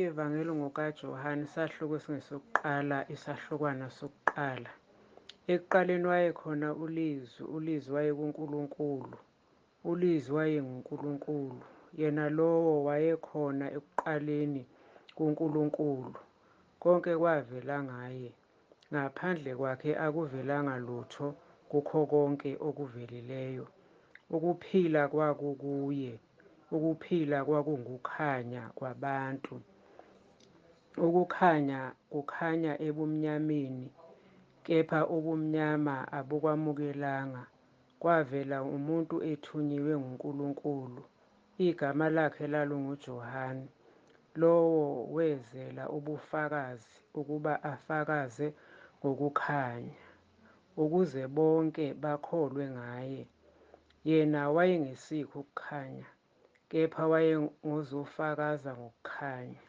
IVangeli ngokaJohane, isahluko esingesokuqala, isahlukwana sokuqala. Ekuqaleni wayekhona uLizwi, uLizwi wayekuNkulunkulu, uLizwi wayenguNkulunkulu. Yena lowo wayekhona ekuqaleni kuNkulunkulu. Konke kwavela ngaye. Ngaphandle kwakhe akuvelanga lutho kukho konke okuvelileyo. Ukuphila kwakukuye. Ukuphila kwakungukhanya kwabantu. Ukukhanya kukhanya ebumnyameni, kepha ubumnyama abukwamukelanga Kwavela umuntu ethunyiwe nguNkulunkulu, igama lakhe lalunguJohane. Lowo wezela ubufakazi ukuba afakaze ngokukhanya, ukuze bonke bakholwe ngaye. Yena wayengesikho ukukhanya, kepha wayengozofakaza ngokukhanya.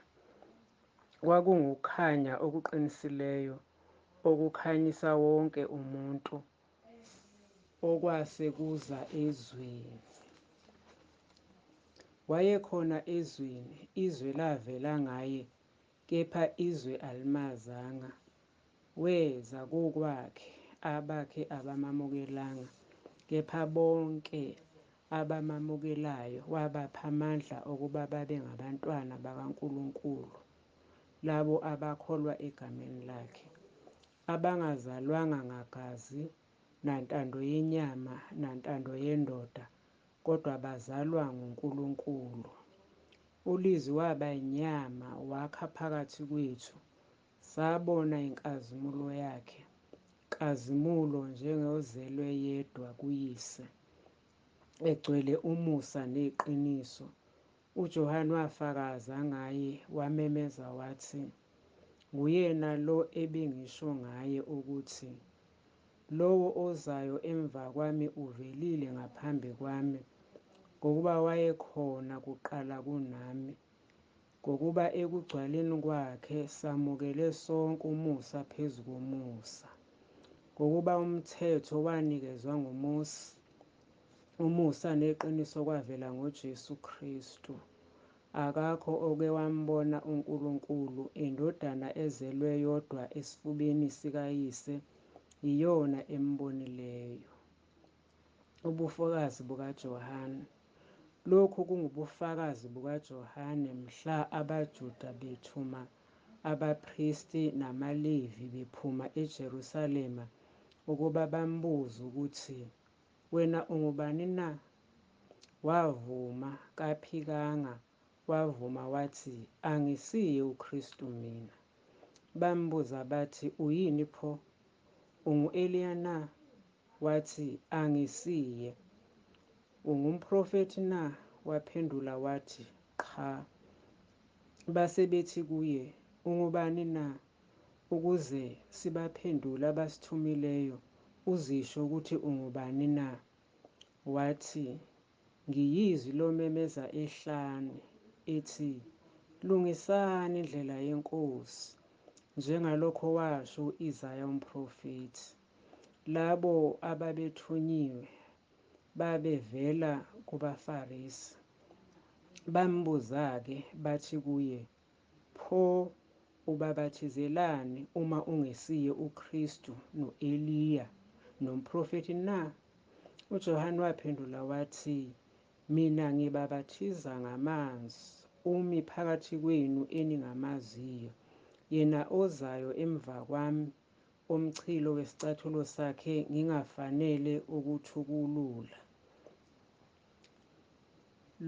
Kwakungukukhanya okuqinisileyo okukhanyisa wonke umuntu okwase kuza ezweni. Wayekhona ezweni, izwe lavela ngaye, kepha izwe alimazanga. Weza kokwakhe, abakhe abamamukelanga, kepha bonke abamamukelayo wabapha amandla okuba babe ngabantwana bakaNkulunkulu, labo abakholwa egameni lakhe, abangazalwanga ngagazi, nantando yenyama, nantando yendoda, kodwa bazalwa nguNkulunkulu. ULizwi waba inyama, wakha phakathi kwethu, sabona inkazimulo yakhe, nkazimulo njengozelwe yedwa kuYise, egcwele umusa neqiniso. UJohane wafakaza ngaye, wamemeza wathi, Nguyena lo ebengisho ngaye ukuthi, Lowo ozayo emva kwami uvelile ngaphambi kwami, ngokuba wayekhona kuqala kunami. Ngokuba ekugcwaleni kwakhe samukele sonke umusa phezu komusa. Ngokuba umthetho wanikezwa nguMose, Umusa neqiniso kwavela ngoJesu Kristu. Akakho oke wambona uNkulunkulu, iNdodana ezelwe yodwa esifubeni sikaYise yiyona embonileyo. Ubufakazi bukaJohane. Lokhu kungubufakazi bukaJohane mhla abaJuda bethuma abapristi namaLevi bephuma eJerusalema ukuba bambuze ukuthi Wena ungubani na? Wavuma, kaphikanga, wavuma wathi, Angisiye uKristu mina. Bambuza bathi, Uyini pho? Ungu-Eliya na? Wathi, Angisiye. Ungumprofethi na? Waphendula wathi, Qha. Base bethi kuye, Ungubani na? Ukuze sibaphendule abasithumileyo, uzisho ukuthi ungubani na? Wathi, NgiyiZwi lomemeza ehlane, ethi, Lungisani indlela yeNkosi, njengalokho washo u-Isaya umprofethi. Labo ababethunyiwe babevela kubaFarisi. Bambuza-ke bathi kuye, Pho ubabathizelani uma ungesiye uKristu, no-Eliya, nomprofethi na? UJohane waphendula wathi, Mina ngibabathiza ngamanzi, umi phakathi kwenu eningamaziyo, yena ozayo emva kwami, omchilo wesicathulo sakhe ngingafanele ukuthukulula.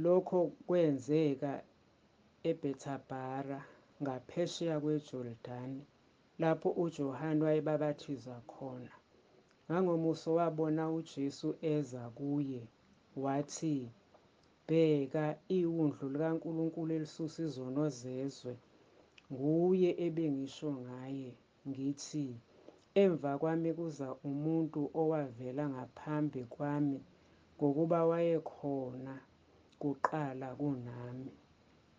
Lokho kwenzeka eBhethabhara ngaphesheya kweJordani, lapho uJohane wayebabatiza khona. Ngangomuso wabona uJesu eza kuye, wathi, Bheka, iWundlu likaNkulunkulu elisusa izono zezwe! Nguye ebengisho ngaye. Ngithi, Emva kwami kuza umuntu owavela ngaphambi kwami, ngokuba wayekhona kuqala kunami.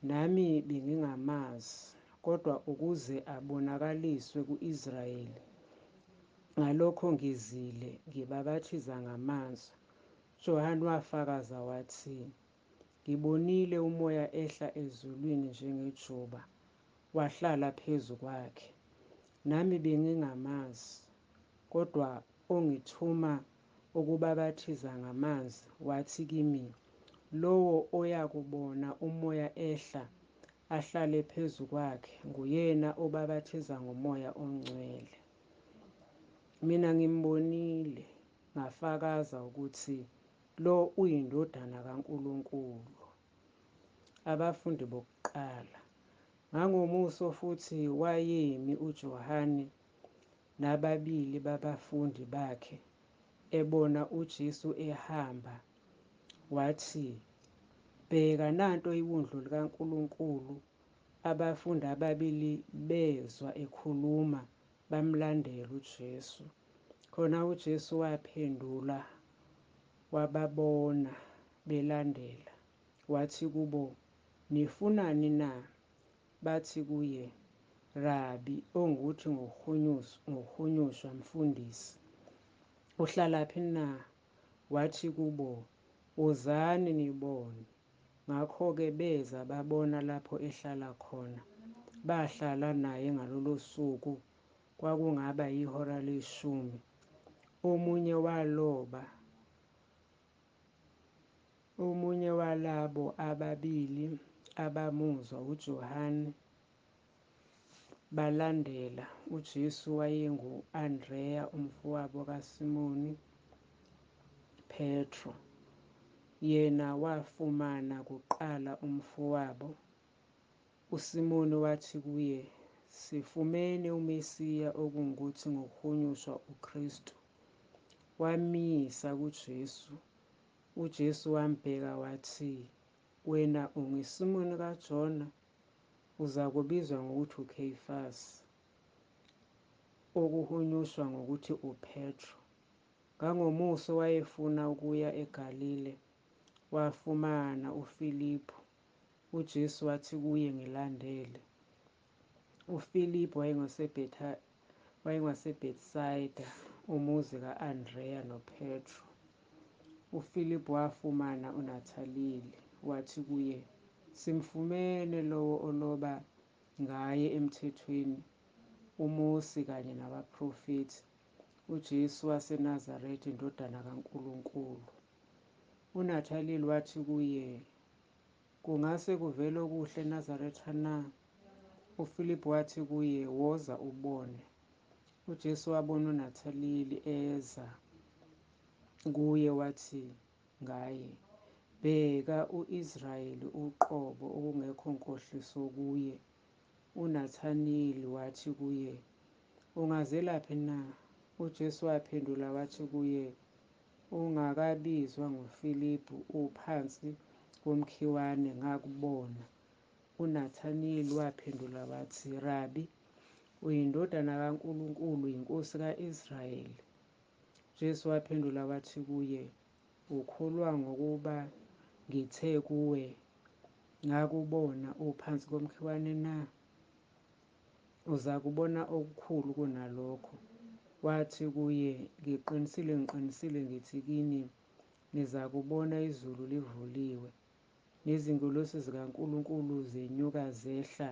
Nami bengingamazi, kodwa ukuze abonakaliswe ku-Israyeli, ngalokho ngizile ngibabathiza ngamanzi. UJohane wafakaza wathi, Ngibonile uMoya ehla ezulwini njengejuba, Wahlala phezu kwakhe. Nami bengingamazi, kodwa ongithuma ukubabaphathiza ngamanzi wathi kimi, Lowo oyakubona uMoya ehla ahlale phezu kwakhe nguyena obabaphathiza ngoMoya oNgcwele. Mina ngimbonile, ngafakaza ukuthi lo uyiNdodana kaNkulunkulu. Abafundi bokuqala. Ngangomuso futhi wayemi uJohane nababili babafundi bakhe, ebona uJesu ehamba, wathi, Bheka, nanto iWundlu likaNkulunkulu! Abafundi ababili bezwa ekhuluma, bamlandela uJesu. Khona uJesu waphendula, wababona, belandela, wathi kubo, Nifunani na? Bathi kuye, Rabi, ongukuthi, ngokuhunyushwa, Mfundisi, uhlalaphi na? Wathi kubo, Wozani nibone. Ngakho-ke beza babona lapho ehlala khona, bahlala naye ngalolosuku, kwakungaba yihora leshumi. Omunye waloba Omunye walabo ababili abamuzwa uJohane balandela uJesu wayengu-Andreya umfowabo kaSimoni Petru. Yena wafumana kuqala umfowabo. USimoni wathi kuye, Sifumene uMesiya okungukuthi ngokuhunyushwa uKristu. wamyisa kuJesu. UJesu wambheka wathi, Wena unguSimoni kaJona, uzakubizwa ngokuthi uKheyifasi, okuhunyushwa ngokuthi uPetru. Ngangomuso wayefuna ukuya eGalile, wafumana uFiliphu. UJesu wathi kuye, Ngilandele. UFiliphu WayengaseBethsayida, umuzi ka-Andreya noPetru. UFiliphu wafumana uNathaliyeli, wathi kuye, Simfumene lowo oloba ngaye eMthethweni, uMosi kanye nabaProfethi, uJesu waseNazaretha, iNdodana kaNkulunkulu. UNathaliyeli wathi kuye, Kungase kuvele okuhle eNazaretha na? UFiliphu wathi kuye, Woza ubone. UJesu wabona uNathaliyeli eza kuye wathi ngaye, Bheka, u-Israyeli uqobo, okungekho nkohliso kuye. UNathaniyeli wathi kuye, Ungazelaphi na? UJesu waphendula wathi kuye, Ungakabizwa nguFiliphu uphansi komkhiwane ngakubona. UNathaniyeli waphendula wathi, Rabi, uyiNdodana kaNkulunkulu, uyiNkosi ka-Israyeli. UJesu waphendula wathi kuye, Ukholwa ngokuba ngithe kuwe, Ngakubona uphansi komkhiwane na? Uzakubona okukhulu kunalokho. Wathi kuye, Ngiqinisile, ngiqinisile ngithi kini, nizakubona izulu livuliwe, nezingelosi zikaNkulunkulu zenyuka zehla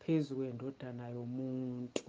phezu kweNdodana yomuntu.